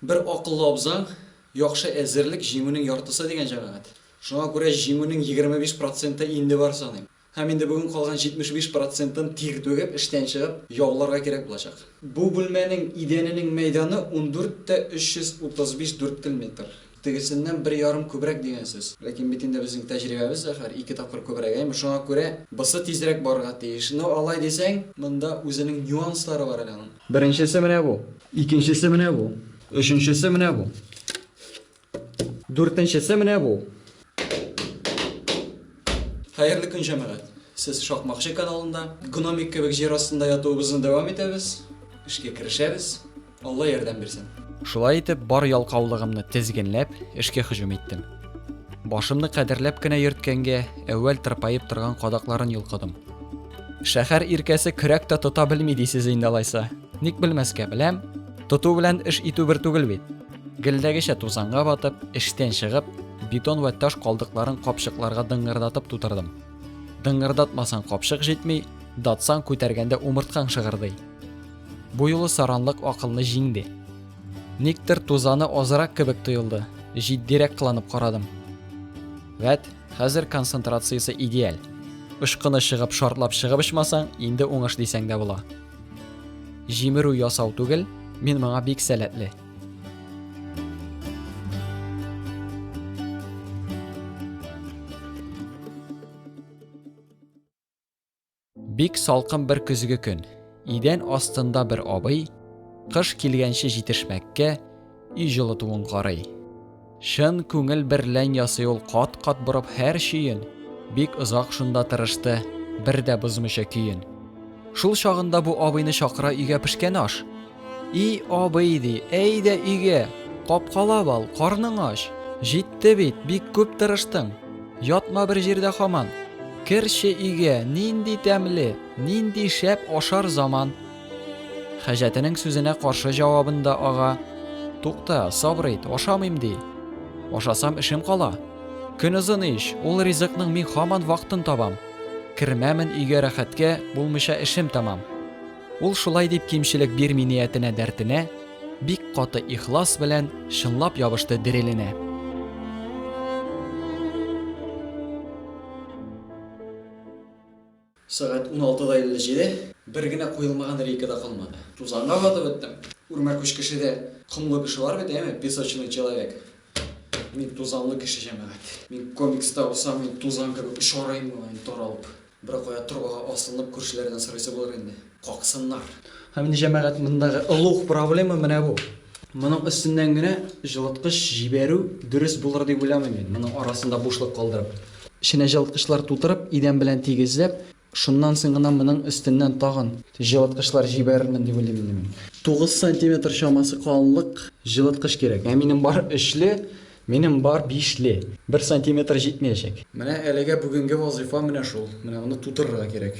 Бер акыллы абзаң, Яхшы әзерлек, җиңүнең яртысы дигән җәмәгать. Шуңа күрә җиңүнең егерме биш проценты инде бар саныйм. Һәм инде бүген калган җитмеш биш процентын тир түгеп, эштән чыгып, яуларга кирәк булачак. Бу бүлмәнең идәненең мәйданы ундүрт тә өч йөз утыз биш дүрткел метр. Тегесеннән бер ярым күбрәк дигән сүз. Ләкин бит инде безнең тәҗрибәбез, зәһәр, ике тапкыр күбрәк, әйме? Шуңа күрә бысы тизрәк барырга тиеш. Ну, алай дисәң, монда үзенең нюанслары бар әле аның. Беренчесе менә бу. Икенчесе менә бу. Өченчесе менә бу. Дүртенчесе менә бу. Хәерле көн җәмәгать! Сез Шакмакчы каналында. Гномик кебек җир астында ятуыбызны дәвам итәбез. Эшкә керешәбез. Алла ярдәм бирсен. Шулай итеп, бар ялкаулыгымны тезгенләп, эшкә һөҗүм иттем. Башымны кадерләп кенә йөрткәнгә, әүвәл тырпаеп торган кадакларын йолкыдым. Шәһәр иркәсе көрәк тә тота белми дисез инде алайса. Ник белмәскә, беләм. Тоту белән эш итү бер түгел бит. Гелдәгечә тузанга батып, эштән чыгып, бетон вә таш калдыкларын капчыкларга дыңгырдатып тутырдым. Дыңгырдатмасаң капчык җитми, датсаң күтәргәндә умырткаң шыгырдый. Бу юлы саранлык акылны җиңде. Никтер тузаны азрак кебек тоелды, җитдирәк кыланып карадым. Вәт, хәзер концентрациясе идеаль. Очкыны чыгып шартлап чыгып очмасаң, инде уңыш дисәң дә була. Җимерү ясау түгел, мин моңа бик сәләтле. Бик салкын бер көзге көн. Идән астында бер абый, кыш килгәнче җитешмәккә, өй җылытуын карый. Чын күңел берлән ясый ул кат-кат борып һәр чөен. Бик озак шунда тырышты, бер дә бозмыйча көен. Шул чагында бу абыйны чакыра өйгә пешкән аш. И абый ди, әйдә өйгә, капкалап ал, карның ач. Җитте бит, бик күп тырыштың. Ятма бер җирдә хаман. Керче өйгә, нинди тәмле, нинди шәп ашар заман. Хаҗәтенең сүзенә каршы җавабын да ага. Тукта, сабыр ит, ашамыйм ди. Ашасам эшем кала. Көн озын ич, ул ризыкның мин хаман вакытын табам. Кермәмен өйгә рәхәткә, булмыйча эшем тамам. Ул шулай дип кимчелек бирми ниятенә дәртенә, бик каты ихлас белән чынлап ябышты диреленә. Сәгать уналты да илле җиде. Бер генә куелмаган рейка да калмады. Тузанга батып беттем. Үрмә күч кешедә комлы кеше бар бит, әйеме? Песочный человек. Мин тузанлы кеше, җәмәгать. Мин комикста булсам, мин тузан кебек очар идем ала инде таралып. Беркая торбага асланып, күршеләрдән сорыйсы булыр инде. Каксыннар. Һәм инде, җәмәгать, мондагы олуг проблема менә бу. Моның өстеннән генә җылыткыч җибәрү дөрес булыр дип уйламыйм мин, моның арасында бушлык калдырып. Эченә җылыткычлар тутырып, идән белән тигезләп, шуннан соң гына моның өстеннән тагын җылыткычлар җибәрермен дип уйлыйм инде мин. Тугыз сантиметр чамасы калынлык җылыткыч кирәк. Ә минем бар өчле, минем бар бишле. Бер сантиметр җитмәячәк. Менә әлегә бүгенге вазыйфа менә шул. Менә моны тутырырга кирәк.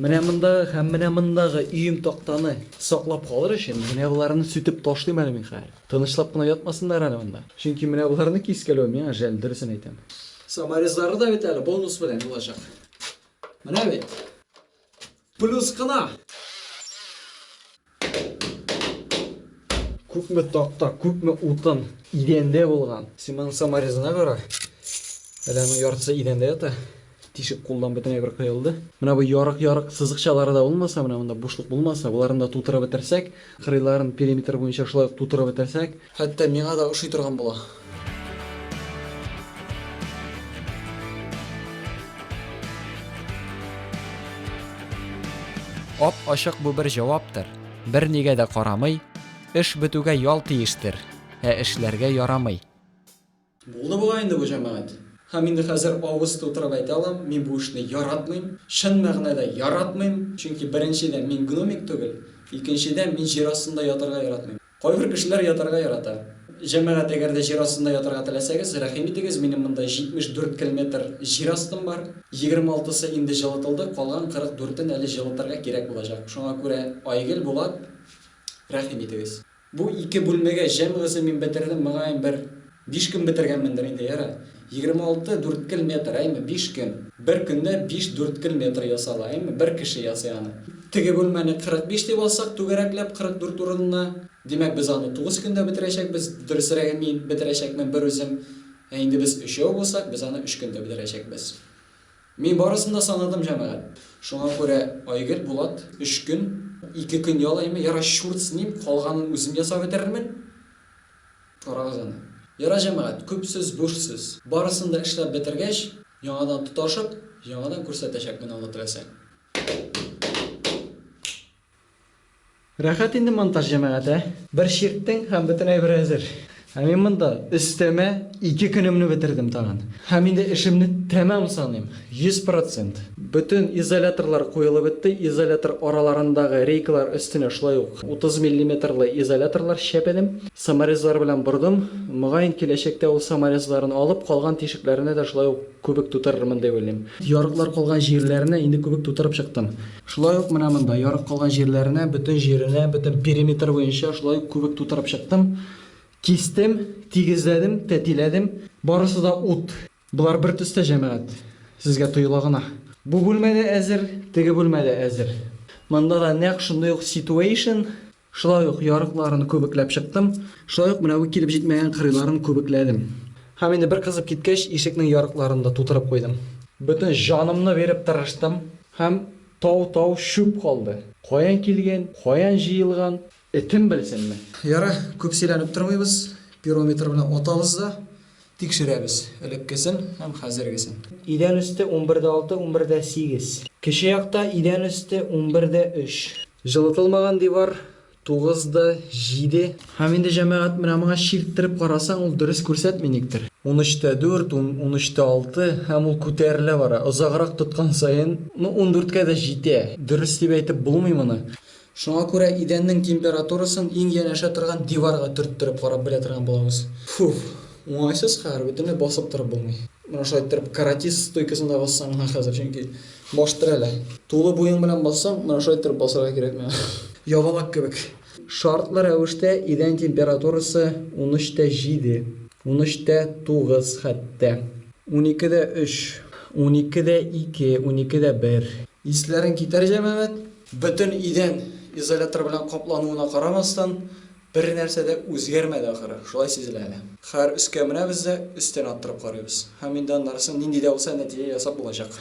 Менә мондагы һәм менә мондагы өем тактаны саклап калыр өчен, менә боларны сүтеп ташлыйм әле мин хәер. Тынычлап кына ятмасыннар әле монда. Чөнки менә боларны кискәләү миңа жәл, дөресен әйтәм. Саморезлары да бит әле бонус белән булачак. Менә бит. Плюс кына! Күпме такта, күпме утын идәндә булган. Син моның саморезына кара. Әле аның яртысы идәндә ята. Тишек кулдан бөтенләй бер кыелды. Менә бу ярык-ярык сызыкчалары да булмаса, менә монда бушлык булмаса, боларны да тутырып бетерсәк, кырыйларын периметр буенча шулай ук тутырып бетерсәк, Хәтта миңа да ошый торган була. Ап-ачык бу бер җаваптыр, Бернигә дә карамый, Эш бетүгә ял тиештер, Ә эшләргә ярамый. Булды бугай инде бу җәмәгать. Һәм инде хәзер авыз тутырып әйтә алам, мин бу эшне яратмыйм, чын мәгънәдә яратмыйм, чөнки беренчедән мин гномик түгел, икенчедән мин җир астында ятарга яратмыйм. Кайбер кешеләр ятарга ярата. Җәмәгать, әгәр дә җир астында ятарга теләсәгез, рәхим итегез, минем монда 74 килметр җир астым бар. 26-сы инде җылытылды, калган 44-н әле җылытырга кирәк булачак. Шуңа күрә, Айгөл, Булат, рәхим итегез. Бу ике бүлмәгә җәмгысын мин бетердем, мөгаен, бер биш көн бетергәнмендер инде, ярый. Егерме алты дүрткел метр, әйме, биш көн. Бер көндә биш дүрткел метр ясала, әйме, бер кеше ясый аны. Теге бүлмәне кырык биш дип алсак, түгәрәкләп, кырык дүрт урынына. Димәк, без аны тугыз көндә бетерәчәкбез, дөресрәге, мин бетерәчәкмен берүзем. Ә инде без өчәү булсак, без аны өч көндә бетерәчәкбез. Мин барысын да санадым, җәмәгать. Шуңа күрә Айгөл, Булат, өч көн, ике көн ял әйме, ярар, чурт с ним, калганын үзем ясап бетерермен. Карагыз аны. Ярар, җәмәгать, күп сүз, буш сүз. Барысын да эшләп бетергәч, яңадан тоташып, яңадан күрсәтәчәкмен аны теләсәң. Рәхәт инде монтаж җәмәгать, ә? Бер чирттең һәм бөтен әйбер әзер. Ә мин монда өстәмә ике көнемне бетердем тагын. Һәм инде эшемне тәмам саныйм, 100 процент. Бөтен изоляторлар куелып бетте, изолятор араларындагы рейкалар өстенә шулай ук 30 миллиметрлы изоляторлар чәпәдем, саморезлар белән бордым. Мөгаен, киләчәктә ул саморезларын алып, калган тишекләренә дә шулай ук күбек тутырырмын дип уйлыйм. Ярыклар калган җирләренә инде күбек тутырып чыктым. Шулай ук менә монда, ярып калган җирләренә, бөтен җиренә, бөтен периметр буенча шулай ук күбек тутырып чыктым. Кистем, тигезләдем, тәтиләдем. Барысы да ут. Болар бер төстә, җәмәгать. Сезгә тоела гына. Бу бүлмә дә әзер, теге бүлмә дә әзер. Монда да нәкъ шундый ук ситуэйшн. Шулай ук ярыкларын күбекләп чыктым. Шулай ук менә бу килеп җитмәгән кырыйларын күбекләдем. Һәм инде бер кызып киткәч, ишекнең ярыкларын да тутырып куйдым. Бөтен җанымны биреп тырыштым. Һәм тау-тау чүп калды. Каян килгән, каян җыелган, этем белсенме? Ярар, күп сөйләнеп тормыйбыз, пирометр белән атабыз да. Тикшерәбез элеккесен һәм хәзергесен. Идән өсте унбер дә алты, унбер дә сигез. Кече якта идән өсте унбер дә өч. Җылытылмаган дивар тугыз да җиде. Һәм инде, җәмәгать, менә моңа чирттереп карасаң, ул дөрес күрсәтми никтер. Унөч тә дүрт, унөч тә алты, һәм ул күтәрелә бара. Озаграк тоткан саен, ну, ундүрткә дә җитә. Дөрес дип әйтеп булмый моны. Шуңа күрә идәннең температурасын иң янәшә торган диварга төрттереп карап белә торган булабыз. Фуф, уңайсыз хәер, бөтенләй басып торып булмый. Менә шулай иттереп каратист стойкасын да бассаң миңа хәзер, чөнки баш терәлә. Тулы буең белән бассаң, менә шулай иттереп басарга кирәк миңа. Ябалак кебек. Шартлы рәвештә идән температурасы унөч тә җиде, унөч тә тугыз хәтта. Унике дә өч, унике дә ике, унике дә бер. Исләрен китәр, җәмәгать! Бөтен идән изолятор белән каплануына карамастан, бернәрсә дә үзгәрмәде ахыры, шулай сизелә әле. Хәер, өскә менәбез дә, өстән аттырып карыйбыз. Һәм инде аннарысы нинди дә булса нәтиҗә ясап булачак.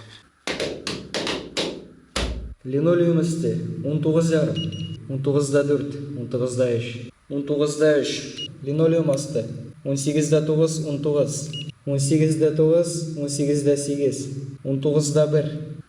Линолеум өсте, унтугыз ярым, унтугыз да дүрт, унтугыз да өч, унтугыз да өч, линолеум асты, унсигез дә тугыз, унтугыз, унсигез дә тугыз, унсигез дә сигез, унтугыз да бер.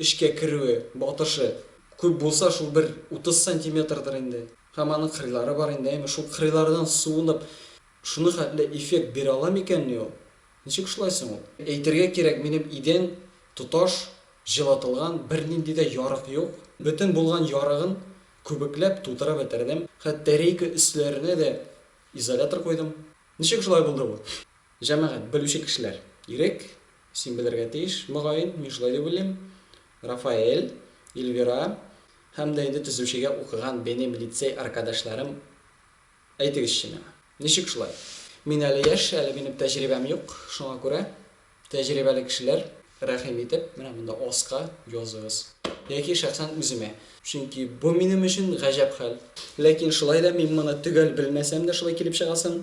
Эчкә керүе, батышы күп булса, шул бер утыз сантиметрдыр инде. Һәм аның кырыйлары бар инде, әйме, шул кырыйлардан суынып, шуны хәтле эффект бирә ала микәнни ул? Ничек шулай соң ул? Әйтергә кирәк, минем идән тоташ җылытылган, бернинди дә ярык юк. Бөтен булган ярыгын күбекләп тутырып бетердем. Хәтта рейка өсләренә дә изолятор куйдым. Ничек шулай булды бу? Җәмәгать, белүче кешеләр, ирек, Син белергә тиеш, мөгаен, мин шулай дип уйлыйм, Рафаэль, Ильвира һәм дә инде төзүчегә укыган бенем лицей аркадашларым, әйтегезче миңа, ничек шулай? Мин әле яшь, әле минем тәҗрибәм юк, шуңа күрә, тәҗрибәле кешеләр, рәхим итеп, менә монда аска языгыз. Яки шәхсән үземә. Чөнки бу минем өчен гаҗәп хәл. Ләкин шулай да мин моны төгәл белмәсәм дә шулай килеп чыгасын.